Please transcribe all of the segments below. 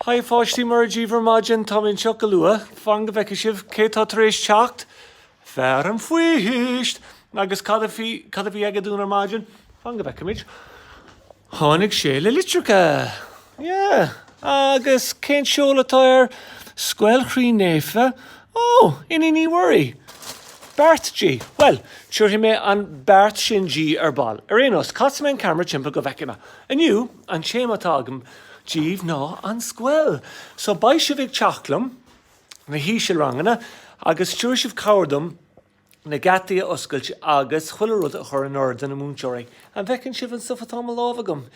Hi a pháistí, móra dhíbh ar maidin, táim anseo go luath. Fan go bhfeicfidh sibh cé tá tar éis teacht! Fear an Phoist! Agus cad a bhí, cad a bhí aige dúinn ar maidin? Fan go bhfeicimid. Tháinig sé le litreacha! Yeah! Agus cén seoladh atá air? Scoil Chroí Naofa? Oh! Iníon Uí Mhuirí? Beart di! Bhuel, tabharfaidh mé an beart sin di ar ball. Ar aon nós, casfaidh mé an ceamara timpeall go bhfeicfimid. Inniu, An téama atá agam díobh ná an scoil. So beidh sibh ag teacht liom na híseal-ranganna agus tabharfaidh sibh cabhair dom na geataí a oscailt agus chuile rud a chur in ord do na múinteoirí. An bhfeiceann sibh an stuif atá i mo lámh agam?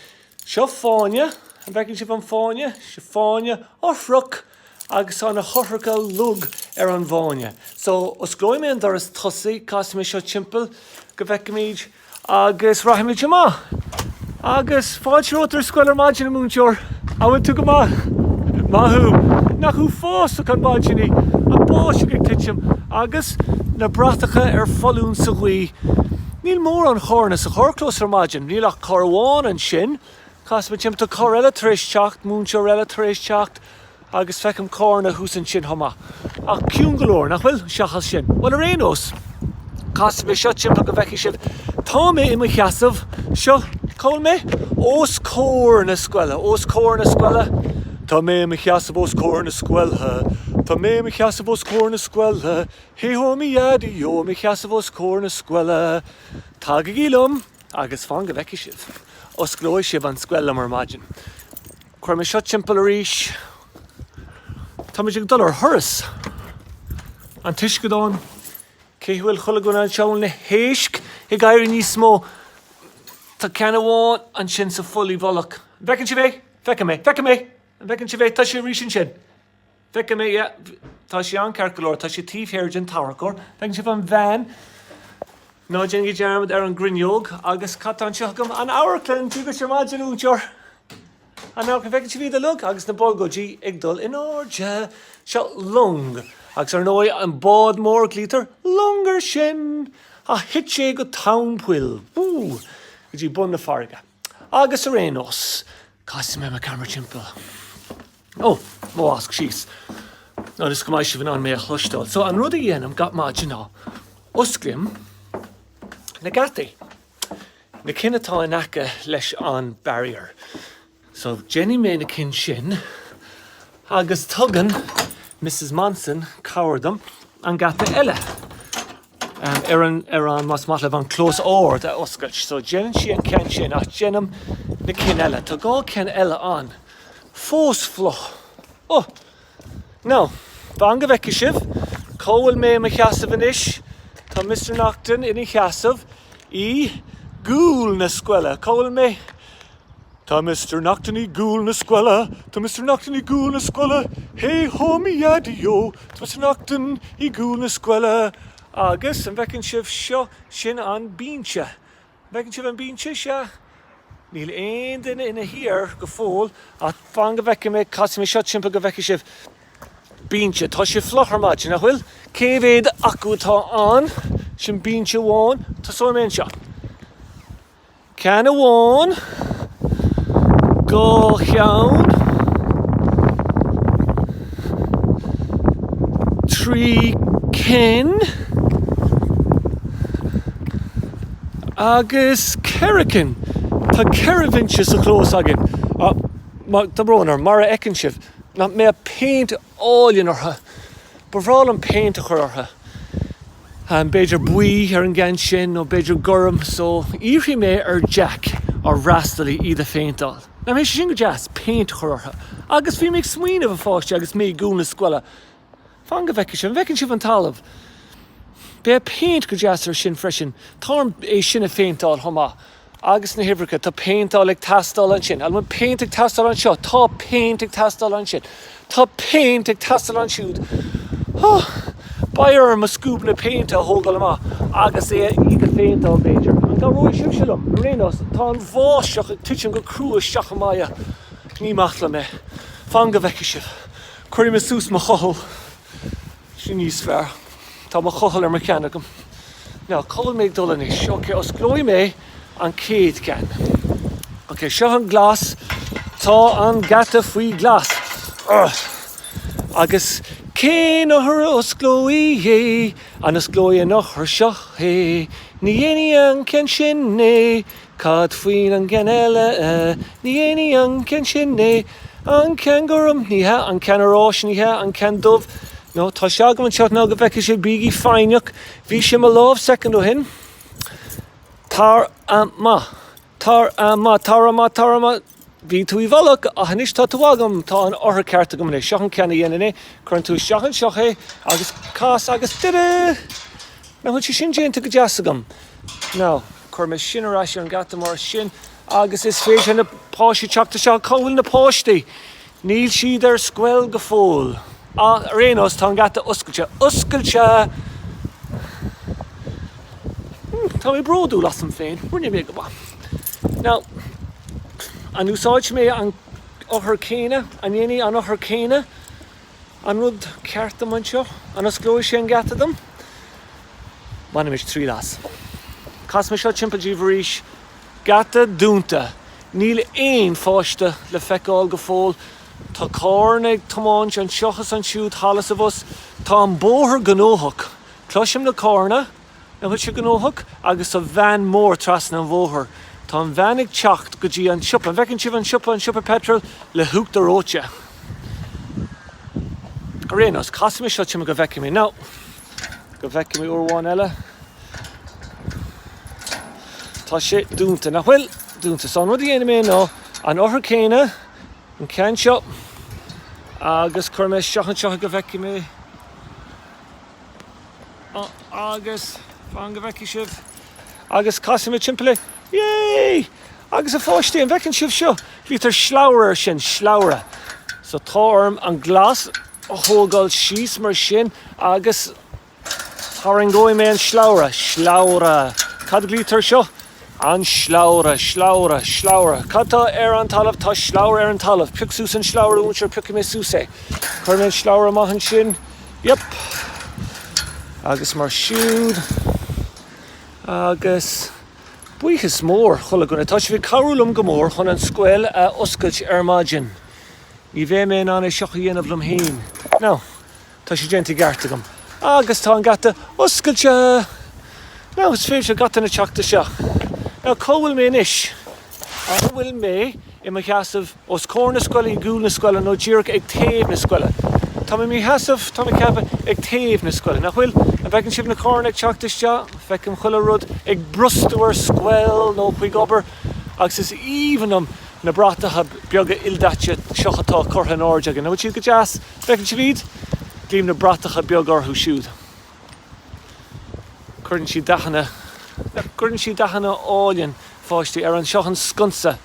Seo fáinne. An bhfeiceann sibh an fáinne? Seo fáinne. Eochracha! agus tá na heochracha uilig ar an bhfáinne so osclóidh mé an doras tosaigh, casfaidh mé seo timpeall go bhfeicfimid agus rachaimid amach agus fáilte romhat ar scoil ar maidin, a Múinteoir, an bhfuil tú go maith? Maith thú! Nach uafásach an mhaidin í, an bháisteach ag titim agus na bratacha ar foluain sa ghaoth. Níl mórán carranna sa charrchlós ar maidin, níl ach carr amháin ansin, Casfaidh mé timpeall, tá carr eile tar éis teacht, múinteoir eile tar éis teacht agus feicim carranna thuas ansin chomh maith. Ach ciúin go leor, nach bhfuil? Seachas sin. Bhuel, ar aon nós, casfaidh mé seo timpeall go bhfeicfidh sibh. Tá mé i mo sheasamh, seo, cá bhfuil mé? Os comhair na scoile, os comhair na scoile, tá mé i mo sheasamh os comhair na scoile, tá mé i mo sheasamh os comhair na scoile, hé hó mo Dhaidí ó, i mo sheasamh os comhair na scoile. Tagaigí liom! Agus fan go bhfeicfidh sibh. Osclóidh sibh an scoil liom ar maidin. Cuirfidh mé seo timpeall arís. Táimid ag dul ar thuras! An t-uisceadán. An bhfuil chuile dhuine anseo? An bhfuil na héisc ag éirí níos mó. Tá ceann amháin ansin sa pholl i bhfolach. An bhfeiceann sibh é? Feicim é. Feicim é! An bhfeiceann sibh é? Tá sé arís ansin. Feicim é, yeah. Tá sé ann ceart go leor. Tá sé taobh thiar den tarracóir. An bhfeiceann sibh an bhean? Ná déanaigí dearmad ar an gcruinneog agus cad tá anseo agam? An amharclann! Dia dhuit ar maidin, a mhúinteoir! An amharclann, an bhfeiceann sibh iad uilig? Agus na bolgóidí ag dul in airde. Seo long. Agus ar ndóigh, an bád mór, glaoitear long ar sin! Ach thit sé go tóin poill. Wúúú! Go dtí bun na farraige. Agus ar aon nós, casfaidh mé an ceamara timpeall. Ó, mo mhasc síos. Ionas go mbeidh sibh in ann mé a chloisteáil? So, an rud a dhéanaim gach maidin ná osclaím na geataí, na cinn atá in aice leis an barrier. So, déanfaidh mé na cinn sin agus tugann Mrs Monson cabhair dom leis an geata eile. ar an, ar an, más maith libh, an clós ard a oscailt. So déanann sí an ceann sin ach déanaim na cinn eile. Tá dhá cheann eile ann fós fliuch. Oh! Now, fan go bhfeicfidh sibh cá bhfuil mé i mo sheasamh anois. Tá Mister Naughton ina sheasamh i gcúl na scoile. Cá bhfuil mé? Tá Mister Noctain i gcúl na scoile, tá Mister Noctain i gcúl na scoile, Hé hó mi ya di yo, tá Mister Noctain i gcúl na scoile. Agus an bhfeiceann sibh seo, sin an bínse. An bhfeiceann sibh an bínse? Sea. Níl aon duine ina shuí air go fóill ach fan go bhfeice mé, casfaidh mé seo timpeall go bhfeice sibh. Bínse. Tá sé fliuch ar maidin, nach bhfuil? Cé mhéad acu atá ann? Sin bínse amháin. Tosóidh mé anseo. Ceann amháin, dhá cheann, trí cinn agus ceithre cinn. Tá ceithre bhinse sa chlós againn ach tá brón orm, mar a fheiceann sibh, nach mbeadh péint álainn orthu. Ba bhreá liom péint a chur orthu. b'fhéidir buí ar an gceann sin nó b'fhéidir gorm so iarrfaidh mé ar Jack, ár bhfreastalaí, iad a phéinteáil. Nach mbeidh sé sin go deas, péint a chur orthu. Agus bhí mé ag smaoineamh, a pháistí, agus mé i gcúl na scoile, fan go bhfeicfidh sibh, an bhfeiceann sibh an talamh? Bheadh péint go deas ar sin freisin, táim é sin a phéinteáil chomh maith. agus na huimhreacha, tá péinteáil ag teastáil ansin, a lán péint ag teastáil anseo, tá péint ag teastáil ansin, tá péint ag teastáil ansiúd, oh, beidh orm mo scuab péint a thógáil amach agus é a iad a phéinteáil b'fhéidir, an gcabhróidh sibhse liom? Ar aon nós, tá an bháisteach ag titim go crua isteach i m'aghaidh, ní maith liom é, fan go bhfeicfidh sibh, cuirfidh mé suas mo chochall. Sin níos fearr. Tá mo chochall ar mo cheann agam. Now, cá bhfuil mé ag dul anois? Ok, osclóidh mé an chéad cheann. Ok, seo an glas. Tá an geata faoi ghlas. Urgh! Agus cén eochair a osclóidh é? An osclóidh an eochair seo é? Ní dhéanfaidh an ceann sin é. Cad faoin an gceann eile? Ní dhéanfaidh an ceann sin é. An ceann gorm? Ní hea. An ceann oráis? Ní hea. An ceann dubh? No. Tá sé agam anseo fan go bhfeicfidh sibh. Bígí foighneach. Bhí sé i mo lámh soicind ó shin. Tar amach. Tar amach. Tar amach. Tar amach. Bhí tú i bhfolach, ach anois tá tú agam. Tá an eochair cheart agam anois. Seo an ceann a dhéanann é. Cuireann tú isteach anseo é agus cas agus tada! Nach bhfuil sé sin déanta go deas agam? Now. Cuirfidh mé sin ar ais ar an geata mar sin agus is féidir na páistí teacht isteach. Cá bhfuil na páistí? Níl siad ar scoil go fóill. Ach ar aon nós, tá an geata oscailte. Oscailte! Tá mé bródúil asam féin. Rinne mé go maith. Now, an úsáidfidh mé an eochair céanna? An ndéanfaidh an eochair céanna? An rud ceart dom anseo? An osclóidh sé an geata dom? Bainimis triail as. Casfaidh mé seo timpeall daoibh arís. Geata dúnta. Níl aon pháiste le feiceáil go fóill. Tá carranna ag tiomáint anseo is ansiúd, thall is abhus. Tá an bóthar gnóthach. Cloisim na carranna. An bhfuil siad gnóthach? Agus an veain mór trasna an bhóthair. Tá an veain ag teacht go dtí an siopa. An bhfeiceann sibh an siopa, an siopa peitril le huachtar reoite? Ar aon nós, casfaidh mé seo timpeall go bhfeicfidh mé, nó go bhfeicfidh mé uair amháin eile. Tá sé dúnta, nach bhfuil? Dúnta. So an rud a dhéanfaidh mé ná an eochair céanna, an ceann seo, agus cuirfidh mé isteach anseo go bhfeicfidh mé. agus fan go bhfeicfidh sibh agus casfaidh mé timpeall é yay! agus a pháistí an bhfeiceann sibh seo? glaoitear slabhra air sin slabhra so tá orm an glas a thógáil síos mar sin agus tarraingeoidh mé an slabhra slabhra cad a glaoitear air seo? An slabhra, slabhra, slabhra. Cad tá ar an talamh? Tá slabhra ar an talamh. Pioc suas an slabhra, a Mhúinteoir, piocfaidh mé suas é. Cuirfidh mé an slabhra amach ansin. Yup. Agus mar siúd. Agus buíochas mór chuile dhuine. Tá sibh ag cabhrú liom go mór chun an scoil a oscailt ar maidin. Ní bheadh mé in ann é seo a dhéanamh liom fhéin. Now. Tá sé déanta i gceart agam. Agus tá an geata oscailte! Now is féidir gach duine teacht isteach. Now cá bhfuil mé anois? An bhfuil mé i mo sheasamh os comhair na scoile, i gcúl na scoile nó díreach ag taobh na scoile? Tá mé i mo sheasamh, tá mé ag ceapadh, ag taobh na scoile, nach bhfuil? An bhfeiceann sibh na carranna ag teacht isteach? Feicim chuile rud ag brostú ar scoil nó chuig obair agus is aoibhinn liom na bratacha beaga ildaite seo atá curtha in airde againn. An bhfuil siad go deas? Bhfeiceann sibh iad, glaoim na bratacha beag orthu siúd. Cuireann siad dathanna, cuireann siad dath álainn, a pháistí, ar an, seo an sconsa,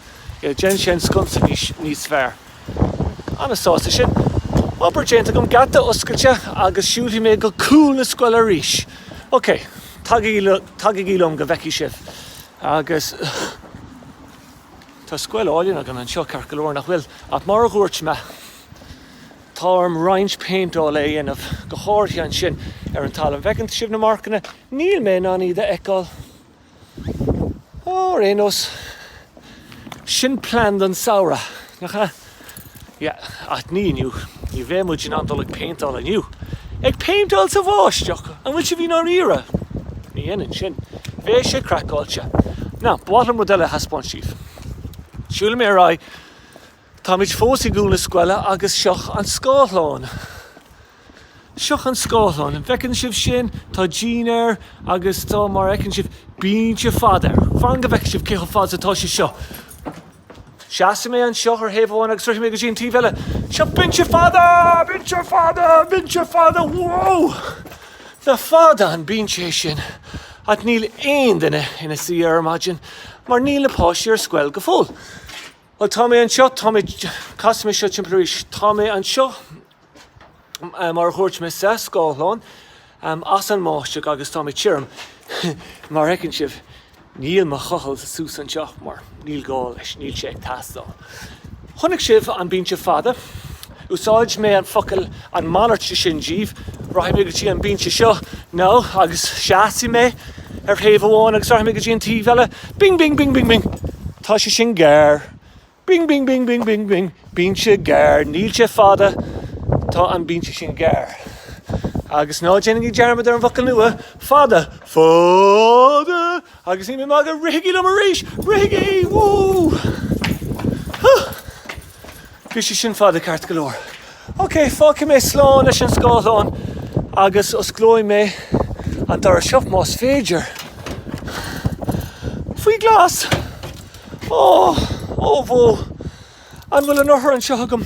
yeah, déanann sé an sconsa níos, níos fearr. An-sásta sin. Obair déanta agam, geata oscailte agus siúlfaidh mé go cúl na scoile arís. OK, tagaigí, tagaigí liom go bhfeicfidh sibh. Agus tá scoil álainn againn anseo, ceart go leor, nach bhfuil? Ach mar a dhúirt mé. Tá orm roinnt péinteála a dhéanamh, go háirithe ansin ar an talamh. An bhfeiceann sibh na marcanna? Níl mé in ann iad a fheiceáil. Ó, ar aon nós, sin plean don samhradh, nach ea? Yeah, ach ní inniu. Ní bheidh muid in ann dul ag péinteáil inniu. Ag péinteáil sa bháisteach! An bhfuil sibh i ndáiríre? Ní dhéanfainn sin. Bheadh sé craiceáilte. Now, ba mhaith liom rud eile a thaispeáint daoibh. Siúlfaidh mé ar aghaidh. Táimid fós i gcúl na scoile agus seo an scáthlán. Seo an scáthlán. An bhfeiceann sibh sin? Tá díon air agus tá, mar a fheiceann sibh, binse fada air. Fan go bhfeice sibh cé chomh fada is atá sé seo. Seasfaidh mé anseo ar thaobh amháin agus rithfidh mé go dtí an taobh eile. Seo binse fada! Binse fada! Binse fada! Whoa! Nach fada an binse é sin! Ach níl aon duine ina suí air ar maidin mar níl na páistí ar scoil go fóill. Bhuel, tá mé anseo, tá mé, casfaidh mé seo timpeall arís, tá mé anseo mar a dhúirt mé sa scáthlán as an mbáisteach agus tá mé tirim mar a fheiceann sibh, níl mo chochall suas anseo mar níl gá leis, níl sé ag teastáil. Chonaic sibh an binse fada? Úsáidfidh mé an focal, an malairt de sin díbh. Rachaidh mé go dtí an binse seo, now, agus seasfaidh mé ar thaobh amháin agus rachaidh mé go dtí an taobh eile. Bing bing bing bing bing. Tá sé sin gearr. Bing bing bing bing bing bing. Binse gearr. Níl sé fada. Tá an binse sin gearr. Agus ná déanaigí dearmad ar an bhfocal nua, fada. Fada! Agus níl mé ag magadh, rithigí liom arís! Rithigí! Woo! Hoo! Bhí sé sin fada ceart go leor. Ok, fágfaidh mé slán leis an scáthlán agus osclóidh mé an doras seo, más féidir. Faoi ghlas! Oh, oh bhó! An bhfuil an eochair anseo agam?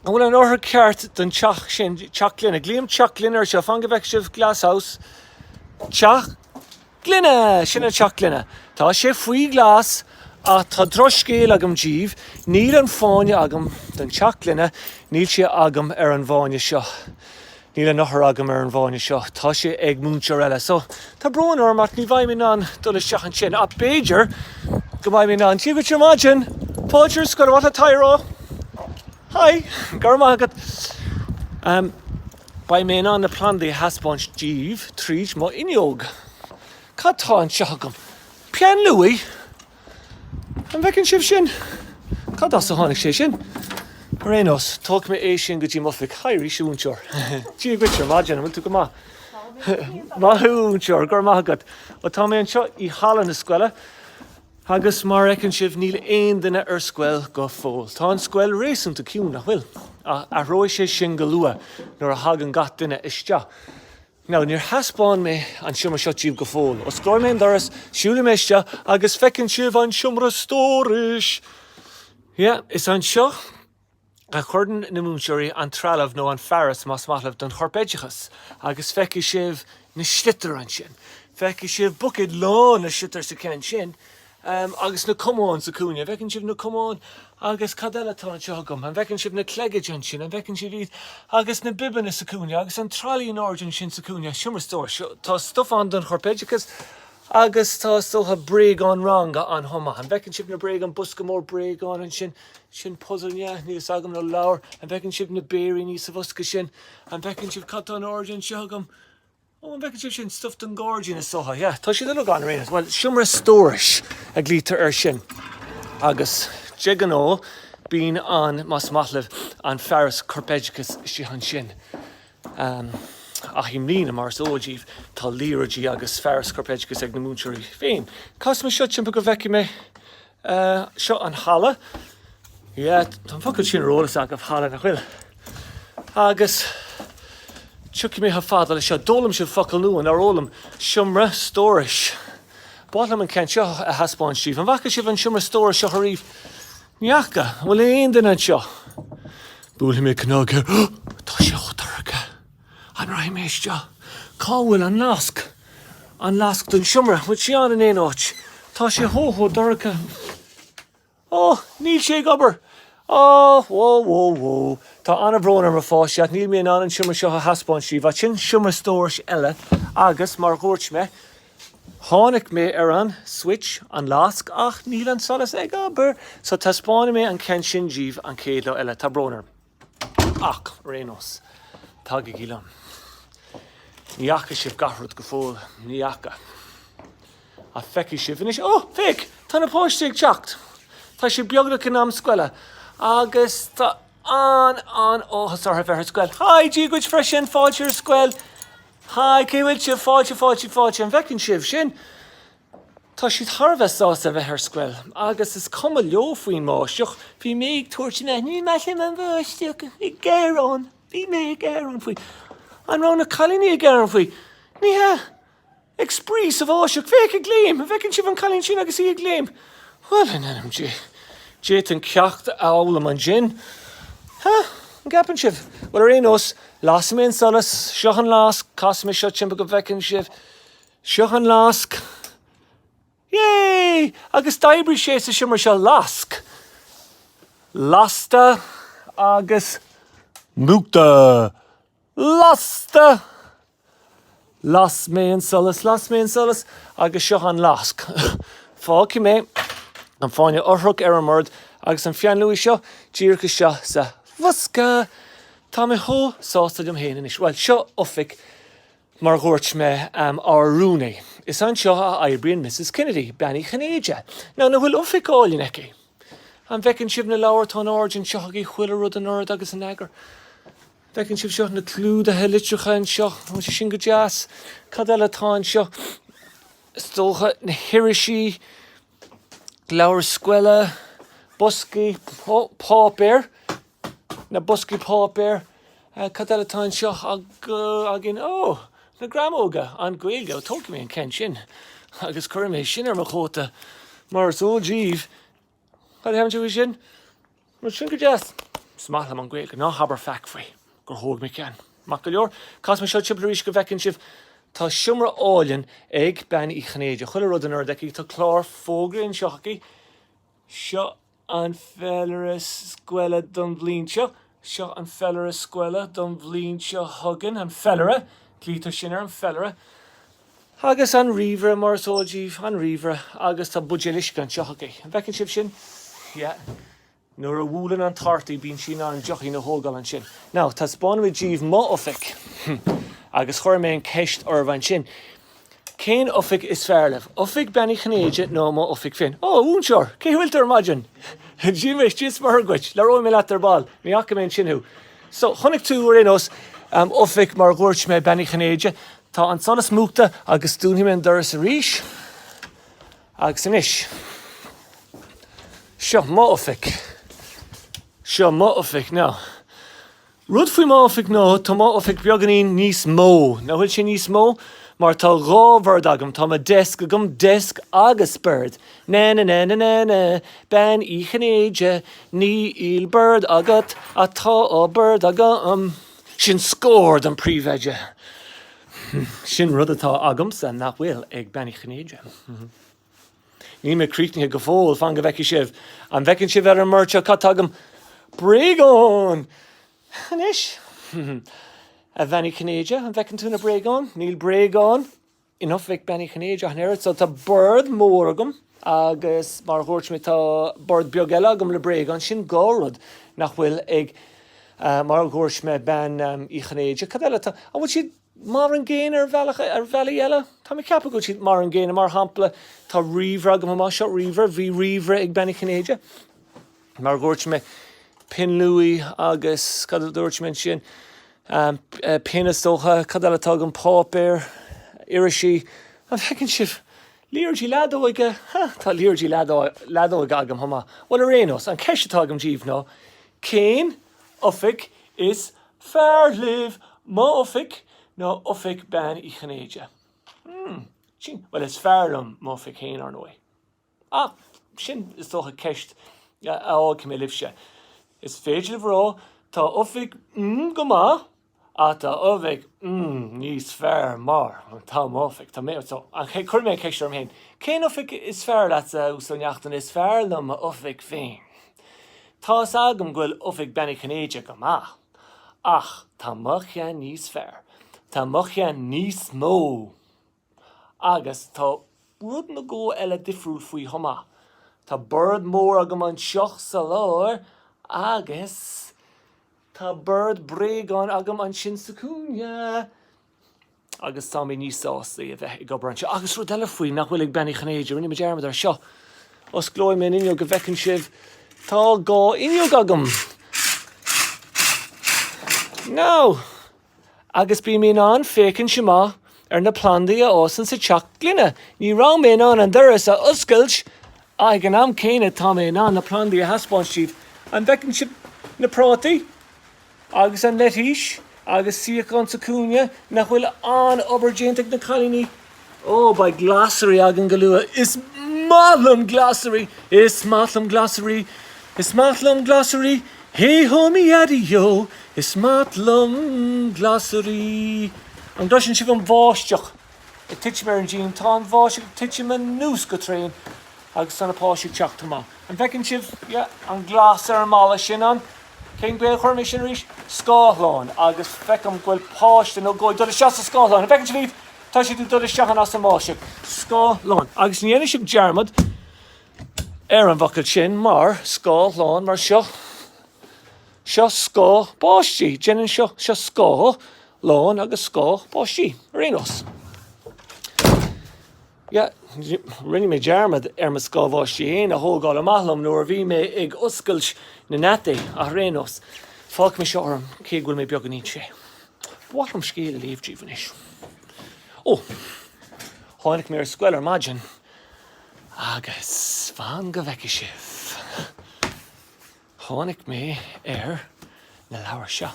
An bhfuil an eochair ceart don teach sin? Teach gloine. Glaoim teach gloine ar seo. Fan go bhfeicfidh sibh, glasshouse. Teach. Gloine! Sin an teach gloine. Tá sé faoi ghlas ach tá drochscéal agam díbh, níl an fáinne agam don teach gloine, níl sé agam ar an bhfáinne seo. Níl an eochair agam ar an bhfáinne seo, tá sé ag múinteoir eile. So, tá brón orm ach ní bheidh mé in ann dul isteach ansin ach b'fhéidir go mbeidh mé in ann Dia dhuit ar maidin! Fáilte ar scoil, a Tara! Hi! Go raibh maith agat. Beidh mé in ann na plandaí a thaispeáint díbh tríd an bhfuinneog. Cad tá anseo agam? Peann luaí? An bhfeiceann sibh sin? Cad as a tháinig sé sin? Ar aon nós, tógfaidh mé é sin go dtí m'oifig. Hi arís, a mhúinteoir. Dia dhuit, ar maidin, an bhfuil tú go maith? Maith thú, a mhúinteoir, go raibh maith agat. Bhuel, tá mé anseo i halla na scoile. Agus mar a fheiceann sibh, níl aon duine ar scoil go fóill. Tá an scoil réasúnta ciúin, nach bhfuil? Ach athróidh sé sin go luath nuair a thagann gach duine isteach. Now, níor thaispeáin mé an seomra seo díobh go fóill. Osclóidh mé an doras, siúlfaidh mé isteach agus feiceann sibh an seomra stórais! Yeah, is anseo. a chuireann na múinteoirí an trealamh nó an fearas más maith libh don chorpoideachas agus feicfidh sibh na sliotair ansin. Feicfidh sibh buicéid lán le sliotair sa cheann sin agus na camáin sa chúinne. An bhfeiceann sibh na camáin agus cad eile atá anseo agam? An bhfeiceann sibh na clogaid ansin? An bhfeiceann sibh iad agus na bibeanna sa chúinne agus an tralaí in airde ansin sa chúinne? Seomra stórais. Tá stuif ann don chorpoideachas. Agus tá, is dócha, bréagáin ranga ann chomh maith. An bhfeiceann sibh na bréagáin, an bosca mór bréagáin ansin? Sin puzail, ab ea? Níl a fhios agam, nó leabhar. An bhfeiceann sibh na béiríní sa bhosca sin? An bhfeiceann sibh, cad tá in airde anseo agam? Ó, an bhfeiceann sibh, sin stuif don ghairdín, is dócha, yeah? Tá siad uilig ann ar aon nós. Bhuel, seomra stórais a ghlaoitear air sin. Agus de ghnáth, bíonn an, más maith libh, an fearas corpoideachais istigh ansin. Ach i mbliana, mar is eol díbh, tá liathróidí agus fearas corpoideachais ag na múinteoirí féin. Casfaidh mé seo timpeall go bhfeicfidh mé seo an halla. Yeah, tá an focal sin ar eolas agaibh, halla, nach bhfuil? Agus tiocfaidh mé chomh fada le seo, d'fhoghlaim sibh focal nua, nár fhoghlaim? Seomra stórais. B'áil liom an ceann seo a thaispeáint díbh. An bhfaca sibh an seomra stórais seo ariamh? Ní fhaca, an bhfuil aon duine anseo? Buailfidh mé cnag air, tá sé chomh dorcha, an rachaidh mé isteach? Cá bhfuil an lasc? An lasc don seomra, an bhfuil sé ann in aon áit? Tá sé chomh, chomh dorcha. Ó, níl sé ag obair! Ó, wó, wó, wó. Tá an-bhrón orm, a pháistí, ach níl mé in ann an seomra seo a thaispeáint díbh, ach sin seomra stórais eile agus, mar a dúirt mé, Tháinig mé ar an, switch, an lasc, ach níl an solas ag obair! So taispeánfaidh mé an ceann sin díbh an chéad lá eile. Tá brón orm. Ach, ar aon nós, tagaigí liom. Ní fhaca sibh gach rud go fóill. Ní fhaca. Ach feicfidh sibh anois. Ó! Féach! Tá na páistí ag teacht! Tá sé beagnach in am scoile. Agus tá an-an-áthas orthu bheith ar scoil. Hi! Dia dhuit freisin! Fáilte ar scoil! Haigh, cén chaoi a bhfuil sibh? Fáilte, fáilte, fáilte, an bhfeiceann sibh sin? Tá siad thar a bheith sásta a bheith ar scoil agus is cuma leo faoin mbáisteach, bhí mé ag tabhairt amach, ní maith liom an bháisteach, ag gearán, bhí mé ag gearán faoi. An raibh na cailíní ag gearán faoi? Ní hea! Ag spraoi sa bháisteach, féach ag léim, an bhfeiceann sibh an cailín sin agus í ag léim? Bhuel, in ainm Dé, d'fhéadfainn ceacht a fhoghlaim ansin, ha! An gceapann sibh? Bhuel, ar aon nós, lasfaidh mé an solas. Seo an lasc. Casfaidh mé seo timpeall go bhfeicfidh sibh. Seo an lasc. Yay! Agus d'oibrigh sé sa seomra seo. Lasc. Lasta. Agus múchta. Lasta! Las mé an solas, las mé an solas, agus seo an lasc. Fágfaidh mé an fáinne eochrach ar an mbord agus an peann luaidhe seo díreach isteach sa bhosca. Tá mé chomh sásta liom féin anois. Bhuel, seo oifig, mar a dhúirt mé, ár rúnaí. Is anseo a oibríonn Misses Kennedy, Bean Uí Chinnéide. Now, nach bhfuil oifig álainn aici? An bhfeiceann sibh na leabhair? Tá ord anseo aici, chuile rud in ord agus in eagar. An bhfeiceann sibh seo, na clúdaithe litreacha anseo, tá sé sin go deas? Cad eile atá anseo? Is dócha, na hirisí, leabhair scoile, boscaí páipéir, na boscaí páipéir, cad eile atá anseo againn? Ó! na greamóga, an Ghaeilge, ó tógfaidh mé an ceann sin agus cuirfidh mé sin ar mo chóta mar is eol díbh, Cad a déarfá faoi sin? Bhuel, sin go deas. Is maith liom an Ghaeilge, ná habair faic faoi, gur thóg mé ceann. Maith go leor, casfaidh mé seo timpeall arís go bhfeicfidh sibh. Tá seomra álainn ag Bean Uí Chinnéide, chuile rud in ord aici, tá clár fógraí anseo aici, seo an féilire scoile don bhliain seo, Seo an féilire scoile don bhliain seo chugainn, an féilire, glaoitear sin air, an féilire, agus an ríomhaire mar is eol díbh, an ríomhaire, agus tá buidéal uisce anseo aici. An bhfeiceann sibh sin? Yeah. Nuair a bhuaileann an tart í bíonn sí in ann deochín a thógáil ansin. Now, taispeánfaidh mé díbh m'oifig. Agus cuirfidh mé an cheist oraibh ansin, Cén oifig is fearr libh? Oifig Bean Uí Chinnéide nó mo oifig féin? Ó, a mhúinteoir! Cén chaoi a bhfuil tú ar maidin? Dia is, Dia is Muire dhuit! Labhróidh mé leat ar ball. Ní fhaca mé ansin thú. So, chonaic tú, ar aon nós, em, oifig mar a dhúirt mé, Bean Uí Chinnéide. Tá an solas múchta agus dúnfaidh mé an doras arís. Agus anois, seo m'oifig. Seo m'oifig now. Rud faoi m'oifig ná, tá m'oifig beagáinín níos mó. Nach bhfuil sin níos mó? Mar tá dhá bhord agam, tá mo desk agam, desk agus bord. Na-na-na-na-na-na, Bean Uí Chinnéide, níl bord agat, ach tá dhá bhord agam. Sin scór don príomhoide. Sin rud atá agamsa nach bhfuil ag Bean Uí Chinnéide. Níl mé críochnaithe go fóill, fan go bhfeicfidh sibh. An bhfeiceann sibh ar an mbord seo cad tá agam? Bréagáin! Anois, a Bhean-Uí Chinnéide, an bhfeiceann tú na bréagáin? Níl bréagáin in oifig Bean Uí Chinnéide ach an oiread, so tá bord mór agam agus mar a dhúirt mé tá bord beag eile agam le bréagáin, sin dhá rud nach bhfuil ag, mar a dhúirt mé, Bean Uí Chinnéide. Cad eile atá Mar an gcéanna ar bhealach, ar bhealaí eile, tá mé ag ceapadh go bhfuil siad mar an gcéanna. Mar shampla, tá ríomhaire agam anseo, ríomhaire, bhí ríomhaire ag Bean Uí Chinnéide, mar a dhúirt mé, pinn luaí agus cad a dúirt mé ansin, pinn is dócha, cad eile atá agam, páipéar, irisí, an bhfeiceann sibh, liathróidí leadóige, huh, tá liathróidí leadóige agam chomh maith. Bhuel, ar aon nós, an cheist atá agam daoibh ná, cén. Oifig, Is fearr libh m'Oifig nó Oifig Bean Uí Chinnéide? Hmm. Sin, bhuel, is fearr liom m'Oifig fhéin, ar ndóigh. Ah, sin, is dócha, ceist a fhágfaidh mé libhse. Is féidir libh a rá, Tá Oifig mm go maith. Tá oifig mm níos fearr mar, tá m'oifig, tá mé, so, an ché, cuirfidh mé an cheist orm féin, cén oifig is fearr leatsa a Uí Neachtain is fearr liom m'oifig féin. Tá's agam go bhfuil oifig Bean Uí Chinnéide go maith, ach tá mo cheann níos fearr, tá mo cheann níos mó. Agus tá rud nó dhó eile difriúil faoi chomh maith. Tá bord mór agam anseo sa lár agus tá bord bréagán agam ansin sa chúinne. Agus tá mé níos sásta a bheith ag obair anseo. Agus rud eile faoi nach bhfuil ag Bean Uí Chinnéide, rinne mé dearmad air seo. Osclóidh mé an fhuinneog go bhfeiceann sibh, tá dhá fhuinneog agam. Now! agus bím in ann féachaint amach ar na plandaí a fhásann sa teach gloine. Ní raibh mé in ann an doras a oscailt ag an am céanna tá mé in ann na plandaí a thaispeáint daoibh. An bhfeiceann sibh na prátaí agus an leitís agus suíochán sa chúinne nach bhfuil an-obair déanta ag na cailíní Ó, beidh glasraí againn go luath. Is maith liom glasraí, is maith liom glasraí, is maith liom glasraí, hé-hó mi yaddy-yo, is maith liom glasraí. An gcloiseann sibh an bháisteach ag titim ar an díon? Tá an bháisteach ag titim anuas go tréan agus féach na páistí ag teacht amach. An bhfeiceann sibh, yeah, an gléas ar an mballa, sin an. Cén chaoi a gcuirfidh mé sin arís. scáthlán agus feicim go bhfuil páiste nó dhó ag dul isteach sa scáthlán. An bhfeiceann sibh iad? Tá siad ag dul isteach ann as an mbáisteach. scáthlán. Agus ní dhéanfaidh sibh dearmad ar an bhfocal sin mar scáthlán mar seo. Seo scáth báistí. Déanann seo seo scáth lán agus scáth báistí ar aon nós. Yeah, rinne mé dearmad ar mo scáth báistí féin a thógáil amach liom nuair a bhí mé ag oscailt na ngeataí, ach ar aon nós, fágfaidh mé seo orm, cé go bhfuil mé beagáinín te. Ba mhaith liom scéal a léamh díobh anois. Ó, tháinig mé ar scoil ar maidin agus fan go bhfeice sibh. Tháinig mé ar na leabhair seo.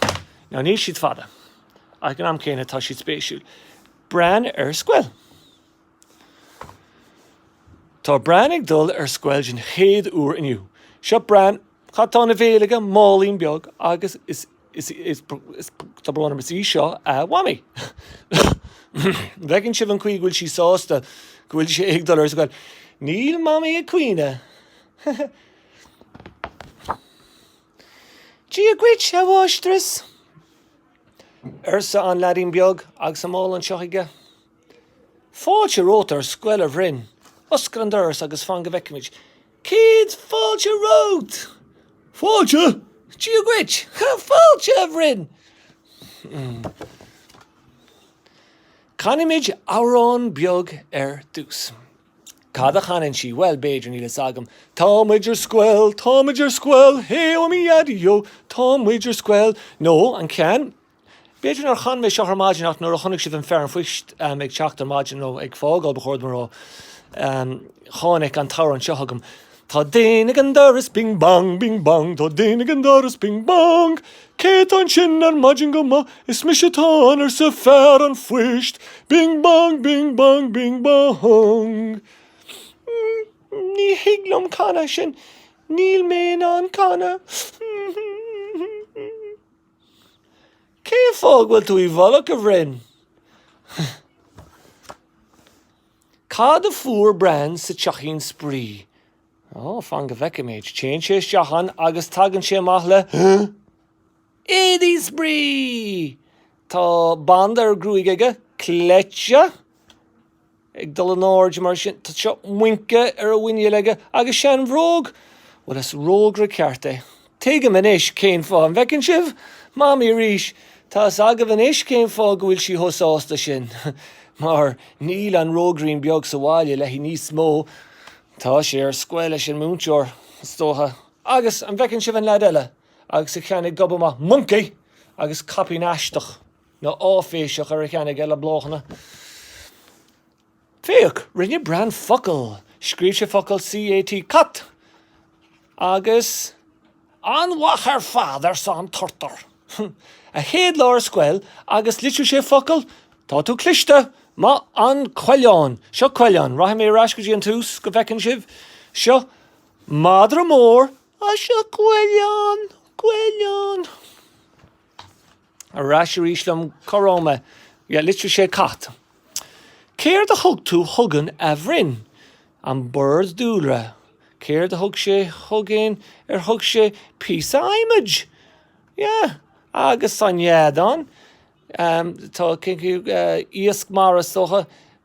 Now níl siad fada, ach ag an am céanna tá siad spéisiúil. Bran ar Scoil. Tá Bran ag dul ar scoil den chéad uair inniu. Seo Bran, cad tá ina bhéal aige? Málaín beag agus is tá brón orm is í seo a Mhamaí. An bhfeiceann sibh an chaoi go bhfuil sí sásta go bhfuil sé ag dul ar scoil? Níl Mamaí ag caoineadh. Dia dhuit, a Mháistreas! arsa an leaidín beag agus an mála anseo chuige. Fáilte romhat ar scoil, a Bhrain! Oscail an doras agus fan go bhfeicfimid céad fáilte romhat! Fáilte? Dia dhuit! Fáilte, a Bhrain! Canfaimid amhrán beag ar dtús. Cad a chanann sí? Bhuel, b'fhéidir, níl fhios agam. Tá muid ar scoil, tá muid ar scoil, hé-oh-mi-ya-di-yo, tá muid ar scoil. Nó an ceann, B'fhéidir nár chan mé seo ar maidin ach nuair a chonaic sibh an fear an phoist ag teacht ar maidin nó ag fágáil, ba chóir dom a rá, tháinig an t-amhrán seo chugam. Tá duine ag an doras bing bang, bing bang, tá duine ag an doras bing bang. Cé tá ansin ar maidin go moch? Is mise atá ann arsa fear an phoist. Bing bang, bing bang, bing bang. Mm, ní thig liom canadh sin, níl mé in ann canadh. Cén fáth go bhfuil tú i bhfolach a Bhrain? Cad a fuair Bran sa teachín spraoi? Ó, fan go bhfeicfimid. Téann sé isteach ann agus tagann sé amach le éadaí spraoi! Tá banda ar a ghruaig aige, cleite ag dul in airde mar sin, tá muince ar a mhuinéal aige agus seanbhróg! Bhuel, is rógaire ceart é. Tuigim anois cén fáth. An bhfeiceann sibh? Mamaí arís! Tá fhios agaibh anois cén fáth go bhfuil sí chomh sásta sin. Mar níl an rógairín beag sa bhaile léi níos mó. Tá sé ar scoil leis an múinteoir, is dócha. Agus an bhfeiceann sibh an lead eile agus a cheann ag gobadh amach? Moncaí! Agus caipín aisteach, nó áiféiseach, ar a cheann aige le bláthanna. Féach, rinne Bran focal, scríobh sé focal C-A-T, cat, agus. An-mhaith ar fad, arsa an Turtar. A chéad lá ar scoil, agus litrigh sé focal, tá tú cliste! Maith an coileán! Seo coileán, rachaidh mé ar ais go dtí an tús go bhfeiceann sibh. Seo madra mór, agus seo coileán, coileán. Ar ais arís liom. Cá raibh mé? Yeah, litrigh sé cat. Céard a thug tú chugainn a Bhrain? An bord dúlra. Céard a thug sé chugainn? Ar thug sé píosa adhmaid? Yeah. Agus an fheadán? Tá, cén chaoi, iasc mara is dócha.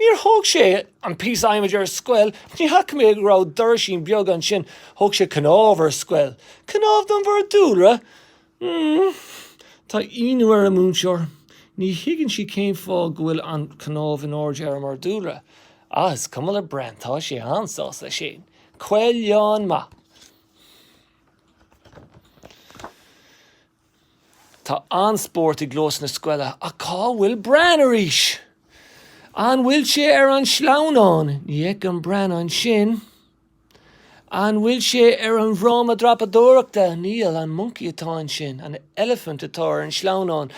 Níor thóg sé an píosa adhmaid ar scoil, ní fhaca mé go raibh doraisín beag ansin, thóg sé cnámh ar scoil. Cnámh don bhord dúlra? Mmm. Tá ionadh ar an múinteoir, ní thuigeann sí cén fáth go bhfuil an cnámh in airde ar an mbord dúlra. Ah, is cuma le Bran, tá sé an-sásta leis féin. Coileán maith. Tá an-spórt i gclós na scoile ach cá bhfuil Bran arís? An bhfuil sé ar an sleamhnán? Ní fheicim Bran ansin. An bhfuil sé ar an bhfráma dreapadóireachta? Níl. An moncaí atá ansin? An eilifint atá ar an sleamhnán?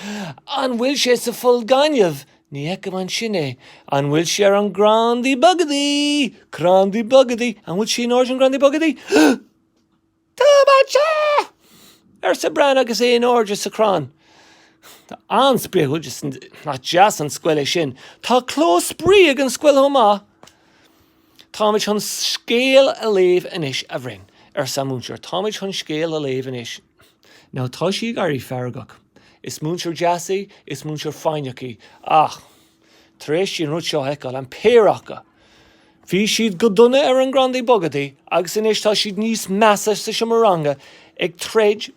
An bhfuil sé sa pholl gainimh? Ní fheicim ansin é. An bhfuil sé ar an gcrandaí bogadaí? Crandaí bogadaí? An bhfuil sé in airde ar an gcrandaí bogadaí? Tá mé anseo! arsa Bran agus é in airde sa chrann. Tá an-spraoi aige. Nach deas an scoil é sin. Tá clós spraoi ag an scoil chomh maith. Táimid chun scéal a léamh anois, a Bhrain, arsa an múinteoir. Táimid chun scéal a léamh anois. Now tá sí ag éirí feargach. Is múinteoir deas í, is múinteoir foighneach í, ach. Tar éis di an rud seo a fheiceáil, an péire acu, bhí siad go dona ar an gcrandaí bogadaí agus anois tá siad níos measa sa seomra ranga ag troid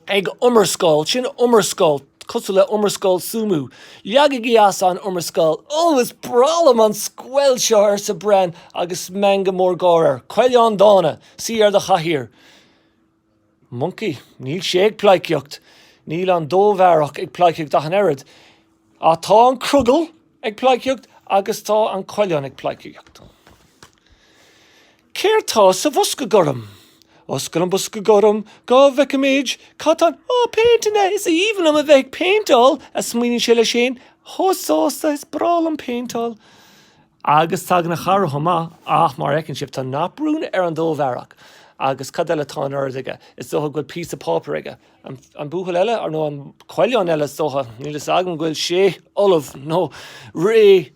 ag iomrascáil, sin iomrascáil, cosúil le iomrascáil súmú. Leagaigí as an iomrascáil. Ó, is breá liom an scoil seo, arsa Bran agus meangadh mór gáire air. Coileán dána, suí ar do chathaoir. Moncaí, Níl sé ag pleidhcíocht. Níl an dobhareach ag pleidhcíocht ach an oiread. Ach tá an crogall ag pleidhcíocht agus tá an coileán ag pleidhcíocht. Céard tá sa bhosca gorm? Oscail an bosca gorm go bhfeicfimid cad tá ann. Ó, péinteanna! Is aoibhinn liom a bheith ag péinteáil! a smaoiníonn sé leis féin. Chomh sásta is breá liom péinteáil. Agus tagann a chara chomh maith, ach mar a fheiceann sibh, tá naprún ar an dobhareach, agus cad eile atá in ord aige, is dócha go bhfuil píosa páipéir aige, an buachaill eile, ar, nó an coileán eile is dócha, níl fhios agam go bhfuil sé ullamh nó réidh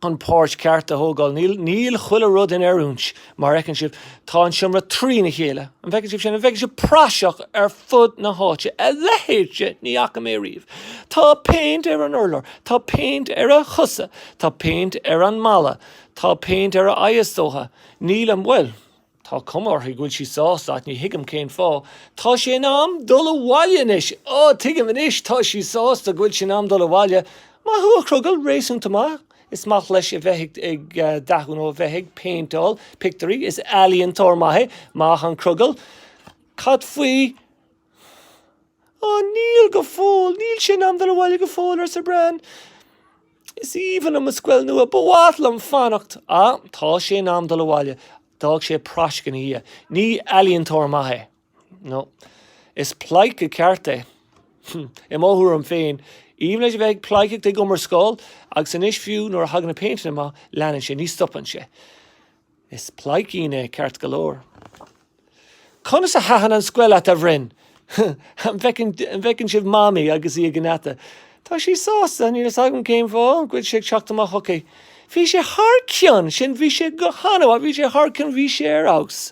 chun páirt ceart a thógáil, níl, níl chuile rud in oiriúint Mar a fheiceann sibh, tá an seomra trína chéile. An bhfeiceann sibh sin? An bhfeiceann sibh praiseach ar fud na háite? A leithéid ní fhaca mé riamh! Tá péint ar an urlár, tá péint ar a chosa, tá péint ar an mballa, tá péint ar a aghaidh is dócha. Níl an bhfuil? Tá cuma uirthi go bhfuil sí sásta ach ní thuigim cén fáth. Tá sé in am dul abhaile anois! Á, tuigim anois, tá sí sásta go bhfuil sé in am dul abhaile. Maith thú, a chrogaill, réasúnta maith. Is maith leis a bheith ag dathú nó a bheith ag péinteáil pictiúirí. Is ealaíontóir maith é. Maith an crogall. Cad faoi Ó, níl go fóill. Níl sé in am dul abhaile go fóill, arsa Bran. Is aoibhinn liom mo scoil nua. Ba mhaith liom fanacht. Ah, tá sé in am dul abhaile. D'fhág sé praisc ina dhiaidh. Ní ealaíontóir maith é. No. Is pleidhce ceart é. I mo thuairim féin, is aoibhinn leis a bheith ag pleidhceacht ag iomrascáil, agus anois fiú nuair a thagann na péinteanna amach, leanann sé, ní stopann sé. Is pleidhcín é, ceart go leor. Conas a thaitin an scoil leat, a Bhrain? An bhfeiceann sibh Mamaí agus í ag an ngeata? Tá sí sásta, níl a fhios agam cén fáth, go bhfuil sé ag teacht amach chuici. Bhí sé thar cionn, sin, bhí sé go han-mhaith, bhí sé thar cionn, bhí sé ar fheabhas.